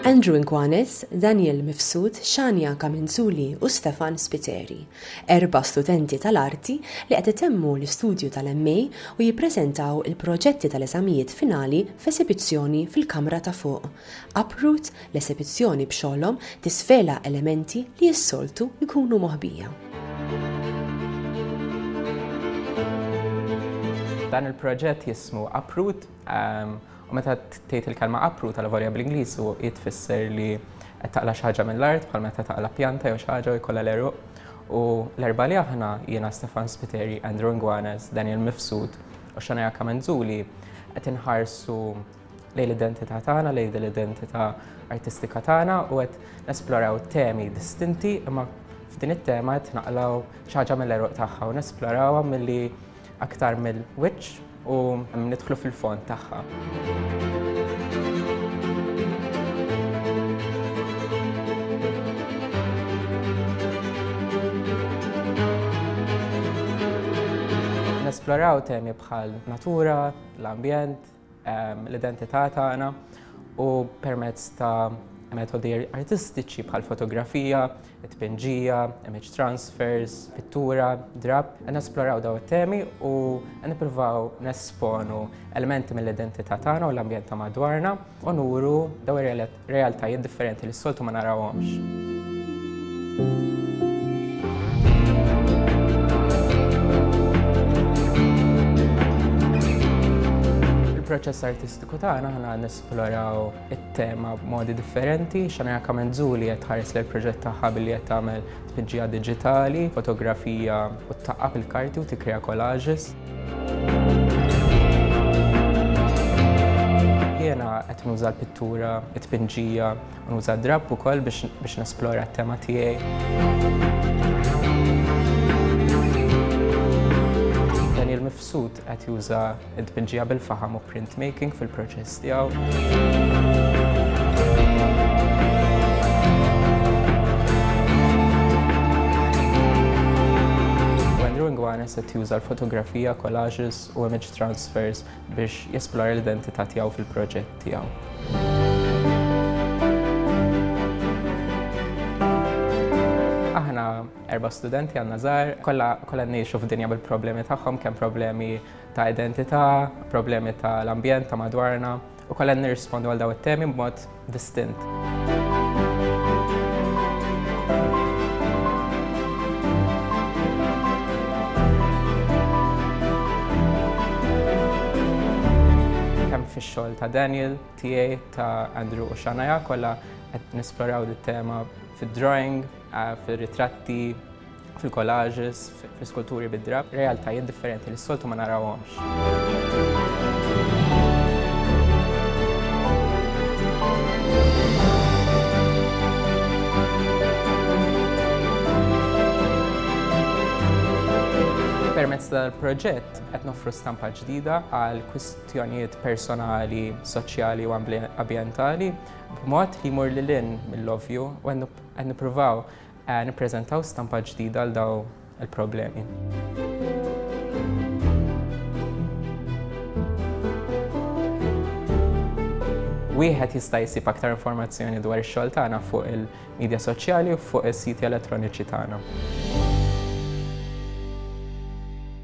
Andrew Inkwanes, Daniel Mifsud, Xania Kaminzuli u Stefan Spiteri, erba' studenti tal-arti li qed itemmu l-istudju tal-MA u jippreżentaw il-proġetti tal-eżamijiet finali f'esibizzjoni fil-kamra ta' fuq. Uproot L-esebizzjoni b'xogħolhom tisvela elementi li s-soltu jkunu moħbija. Dan il-proġett jismu Uproot ehm, u meta tgħid il-kelma Uproot tal vorja bl-Ingliż u jitfisser li qed taqla xi ħaġa mill-art bħal meta taqla pjanta jew xi ħaġa u jkollha l-eruq. U l-erba li aħna jiena Stefan Spiteri, Andrew Ngwanes, Daniel Mifsud u Xanaya Kamenzuli qed inħarsu lejn l-identità tagħna, lejn l-identità artistika tagħna u qed nesploraw temi distinti imma f'din it-tema qed naqlaw xi ħaġa mill-eruq tagħha u nesplorawha milli aktar mill-wiċċ u nidħlu fil-fond tagħha. Nesploraw temi bħal natura, l-ambjent, l-identità tagħna u permezz ta' metodi artistiċi bħal fotografija, tpinġija, image transfers, pittura, drab, nesploraw daw it-temi u nippruvaw nesponu elementi mill-identità tagħna u l-ambjent ta' madwarna u nuru daw realtajiet differenti li s-soltu ma narawhomx. fil-proċess artistiku tagħna ħana nesploraw it-tema b'modi differenti. Xanajja Kamenzuli qed ħares l proġett tagħha billi qed tagħmel tpiġġija diġitali, fotografija u taqqab il-karti u tikkrea collages. Jiena qed nuża l-pittura, it-tpinġija, u nuża d-drapp ukoll biex nesplora t-tema tiegħi. Daniel Mifsud qed juża d-tpinġija bil-faħam u printmaking fil-proċess Andrew Ingwane se tjuża l-fotografija, collages u image transfers biex jesplora l-identità tiegħu fil-proġett tiegħu. aħna erba' studenti għandna żgħar, kollha kollha ngħixu f'dinja bil-problemi tagħhom, kemm problemi ta' identità, problemi ta' l-ambjent ta' madwarna u kollha nirrispondu għal daw it-temi b'mod distint. Kemm fix-xogħol ta' Daniel, tiegħi, ta' Andrew u Shania kollha qed nisploraw dit-tema fid-drawing, fir-ritratti, fil-collages, fl-iskulturi bid-drab, realtajiet differenti li s-soltu ma narawhomx. Permezz tal-proġett qed noffru stampa ġdida għal kwistjonijiet personali, soċjali u ambjentali b'mod li jmur lil hinn mill-ovvju u qed nippruvaw Nippreżentaw stampa ġdida għal dawn il-problemi. Wieħed jista' jsib aktar informazzjoni dwar ix-xogħol tagħna fuq il-medja soċjali u fuq is-siti elettroniċi tagħna.